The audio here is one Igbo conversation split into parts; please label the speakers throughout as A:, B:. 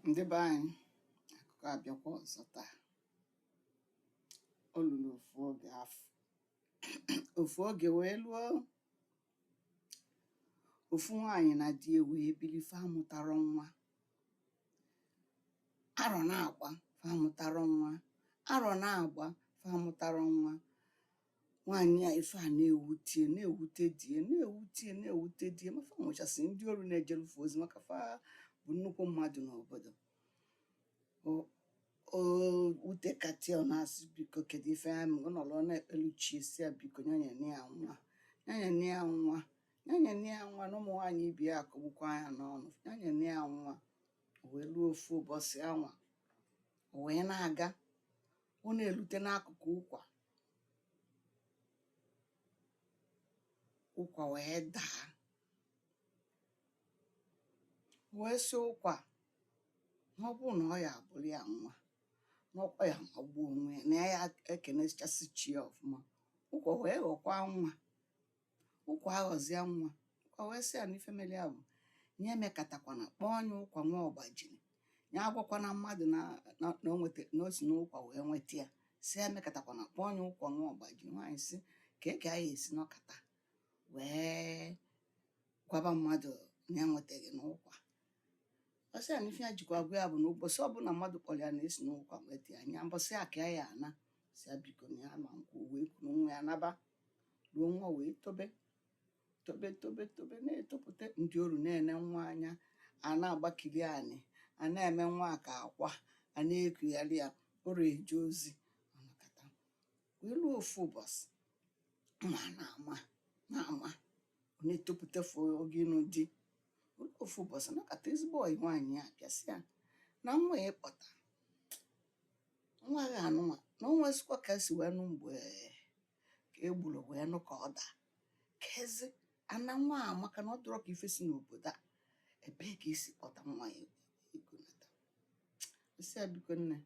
A: ndị be anyị akụkọ abịakwa ọzọ taa o luru ofu oge afụ ofu oge wee luo ofu nwaanyị na di ya wee bili fa amụtarọ nwa arọ na-agba fa amụtarọ nwa arọ na-agba fa amụtarọ nwa Nwaanyị a ife a na-ewute ya na-ewute di ya na-ewute ya na-ewute di ya ma fa nwechasị ndị oru na-ejeru fa ozi maka fa bụ nnukwu mmadụ n'obodo O- o wutekata ya ọ na-asị biko kedu ife ya mere ọ nọrọ ọ na-ekpelu chi ya sị ya biko nya nyenụ ya nwa nya nyenụ ya nwa nya nyenụ ya nwa na ụmụ nwaanyị ibe ya akọgbukwa nya n'ọnụ nya nyenụ ya nwa o wee ruo ofu ụbọchị anwa o wee na-aga ọ na-elute n'akụkụ ụkwa ụkwa wee daa wee sị ụkwa na ọ bụrụ na ọ ya-abụrụ ya nwa na ọkwa ya magbuo onwe ya na ya ya-ekenechasị chi ya ọfụma ụkwa wee ghọkwa nwa ụkwa aghọzịa nwa ụkwa wee sị ya na ife mere ya bụ nya emekatakwana kpọọ nya ụkwa nwa ọgbajiri ya agwakwana mmadụ na na- na o nweta- na o si n'ụkwa wee nweta ya sị ya emekatakwana kpọọ nya ụkwa nwa ọgbajiri nwaanyị sị kee ka nya esi nọkata wee gwaba mmadụ na ya nweta gị n'ụkwa ọ sị ya na ife ya jikwa agwa ya bụ na ụbọchị ọbụla mmadụ kpọrọ ya na e si n'ụkwa nweta ya na mbọsị a ka ya ya-ana sị ya biko na ya ma-ekwu wee kuru nwa ya naba ruo nwa wee tobe tobe tobe tobe na-etopụta ndị oru na-ene nwa anya a na-agbakili ani a na-eme nwa ka akwa a na-ekugharị ya oru eje ozi ọ nọkata wee ruo ofu ụbọchị nwa na-ama na-ama ọ na-etopụta fụ oge ịnụ di ofu ụbọchị nọkata ezigbo ọyị nwaanyị a bịa sị ya na nwa a ị kpọta nwa gị anụnwa na o nwesịkwa ka e si wee nụ mgbe ka e buru wee nụ ka ọ daa kezi ana nwa a maka na ọ dịrọ ka ife si n'obodo a ebee ka i si kpọta nwa a i gonata ọ sị ya biko nne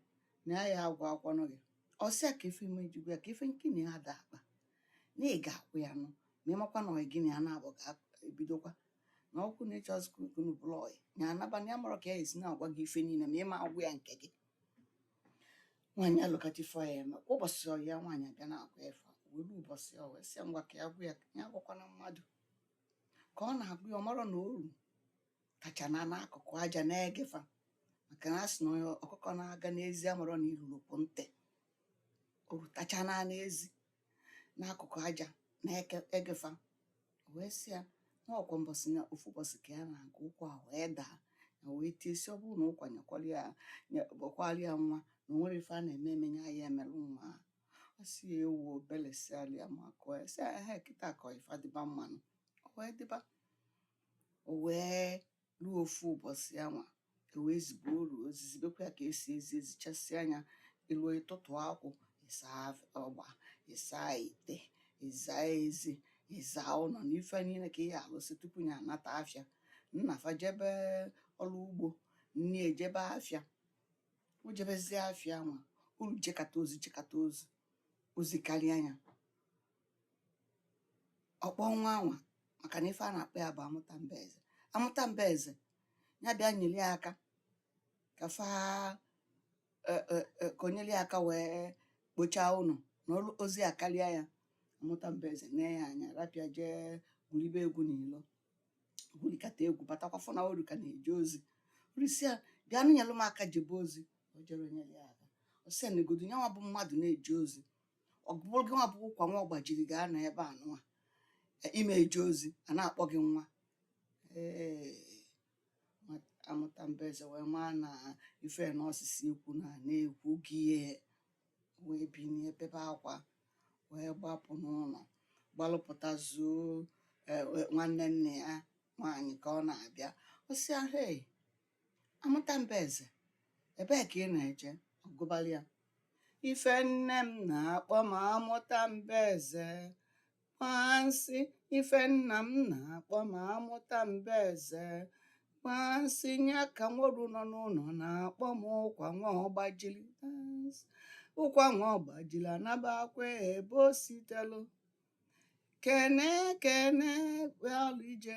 A: na ya ya-agwakwanụ gị ọ sị ya kee ife ị ma-eji gwa ya kee ife nkini ya da akpa na ị ga-akwụ ya nụ ma ị makwa na ọyị gị na ya na-abụ ga-ebidokwa na ọkụ na-eche azụ ka unu bụrụ ọyị ya anaba na ya amarọ ka ya esi na-agwa gị ife niile ma ị ma-agwa ya nke gị nwaanyị elokata ife ya-eme kwa ụbọchị ọyị ya nwaanyị abịa na-agwa ya ife a, wee ruo ụbọchị o wee sị ya ngwa ka ya gwa ya ya gwakwana mmadụ ka ọ na-agwa ya ọ marọ na oru tacha nọ n'akụkụ aja na-ege fa maka na a sị na onye akụkọ na-aga n'ezi amarọ na iruro pu ntị oru tacha nọ n'ezi n'akụkụ aja na-ege fa wee sị ya na ọ kwa mbọsị na ofu ụbọsị ka ya na-aga ụkwa wee daa ya wee tie sị ọ bụrụ na ụkwa nyekwara ya nyekwara ya nwa na o nwere ife a na-eme eme ya ya emelụ nwa a ọ sị ya ewo obele si alịa makụọ ya sị ya ehe kịta ka ife adịba mma nụ o wee dịba o wee ruo ofu ụbọsị anwa e wee zibe oru ozi zibekwa ya ka e si ezi ezichasị anya elu ịtụtụ akwụ ịsa ọgba ịsa ite ịza ezi ịza ụnọ na ife niile ka ị ya-alụsị tupu ya anata afịa nna fa jebe ọlụ ugbo nne ya jebe afịa o jebezie afịa anwa oru jekata ozi jekata ozi ozi karịa ya ọ kpọọ nwa anwa maka na ife a na-akpọ ya bụ amụta mba eze amụta mba eze ya bịa nyere ya aka ka fa e, e, e, ka o nyere ya aka wee kpochaa ụnọ na ozi akarịa ya amụta mba eze nee ya anya rapụ ya jee gwuribe egwu n'ilo gwurikata egwu batakwa fụ na oru ka na-eje ozi oru sị ya bịa nụ nyere m aka jebe ozi o jerọ nyere ya aka ọ sị ya negodu nya nwa bụ mmadụ na-eje ozi ọ bụrụ gị nwa bụ ụkwa nwa ọgbajiri ga-anọ ebe anụwa ị ma eje ozi a na-akpọ gị nwa ee amụta mba eze wee maa na ife na ọ sị sị ekwuna na e kwugo ya wee binie bebe akwa wee gbapụ n'ụnọ gbalụ pụta zuo e, e, nwanne nne ya nwaanyị ka ọ na-abịa ọ sị ya hei Amụta mba eze, ebee ka ị na-eje? Ọ gụbara ya. Ife nne m na-akpọ m amụta mba eze. Gbansị, ife nna m na-akpọ m amụta mba eze. Gbansị, nya ka nwa oru nọ n'ụnọ na-akpọ m ụkwa nwa ọgbajili. Gbansị. Ụkwa nwa ọgbajili anabakwa ebe o sitelu. Kene kene ọbịalụ ije.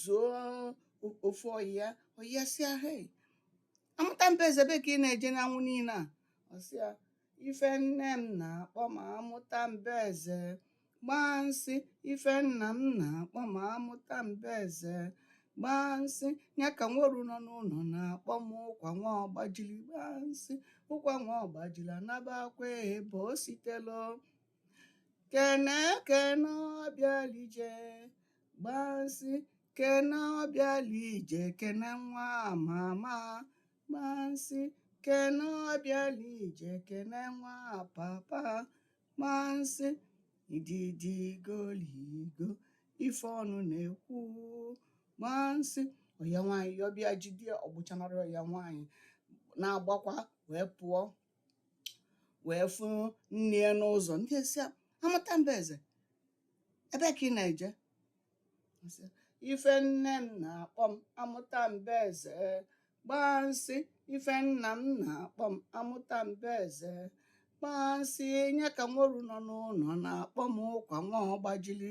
A: zuo o- ofu ọyị ya ọyị ya sị ya hei amụta mba eze ebe ka ị na-eje n'anwụ niile a ọ sị ya ife nne m na-akpọ m amụta mba eze gbansị ife nna m na-akpọ m amụta mba eze gbansị ya ka nwa oru nọ n'ụnọ na-akpọ m ụkwa nwa ọgbajili gbansị ụkwa nwa ọgbajili anabakwa ebe o sitelu kene kene ọbịalụ ije gbansị kene ọbịalụ ije kene nwa mama gbansị kene ọbịalụ ije kene nwa papa gbansị ididịgoligo ife ọnụ na-ekwu gbansị ọyị ya nwaanyị yọ bịa jide ya ọ gbụchanarị ọyị ya nwaanyị na-agbakwa wee pụọ wee fụ nne ya n'ụzọ nne ya sị ya amụta mba eze ebe ka ị na-eje Ọ sị, ife nne m na-akpọ m amụta mba eze gbaa nsị ife nna m na-akpọ m amụta mba eze gbaa nsị nye ka nwa oru nọ n'ụnọ na-akpọ m ụkwa nwa ọgbajili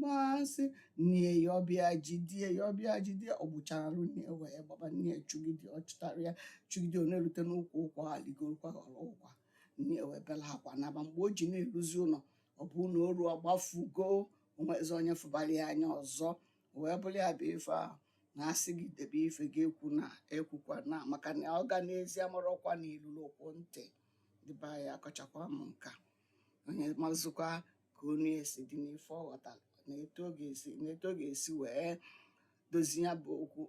A: masị nne ya ọ bịa jide ya ọ bịa jide ya ọ gbụcharụ nne ya wee gbaba nne ya chụgide ọ chụtara ya chụgide ọ na-elute n'ukwu ụkwa ha ligorokwa ghọrọ ụkwa nne ya wee bela akwa naba mgbe o ji na-eluzi ụnọ ọ bụ na oru agbafugo o nwezi onye fụbara ya anya ọzọ wee bụrụ ya bụ ife ahụ a na-asị gị debe ife ị ga-ekwu na ekwukwana maka na ọ ga n'ezi amarọkwa na ilulu okwu ntị dịba ya akọchakwa m nke a onye mazụkwa ka ọnụ ya si dị n'ife ọ ghọtara na etu ọ ga-esi wee dozie ya bụ okwu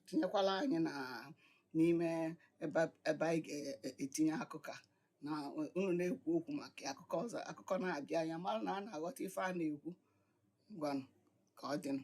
A: tinyekwala anyị na n'ime ebe anyị ga-etinye akụkọ a na unu na-ekwu okwu maka ya, akụkọ ọzọ akụkọ na-abịa anyị amara na a na-aghọta ife a na-ekwu ngwanụ ka ọ dịnụ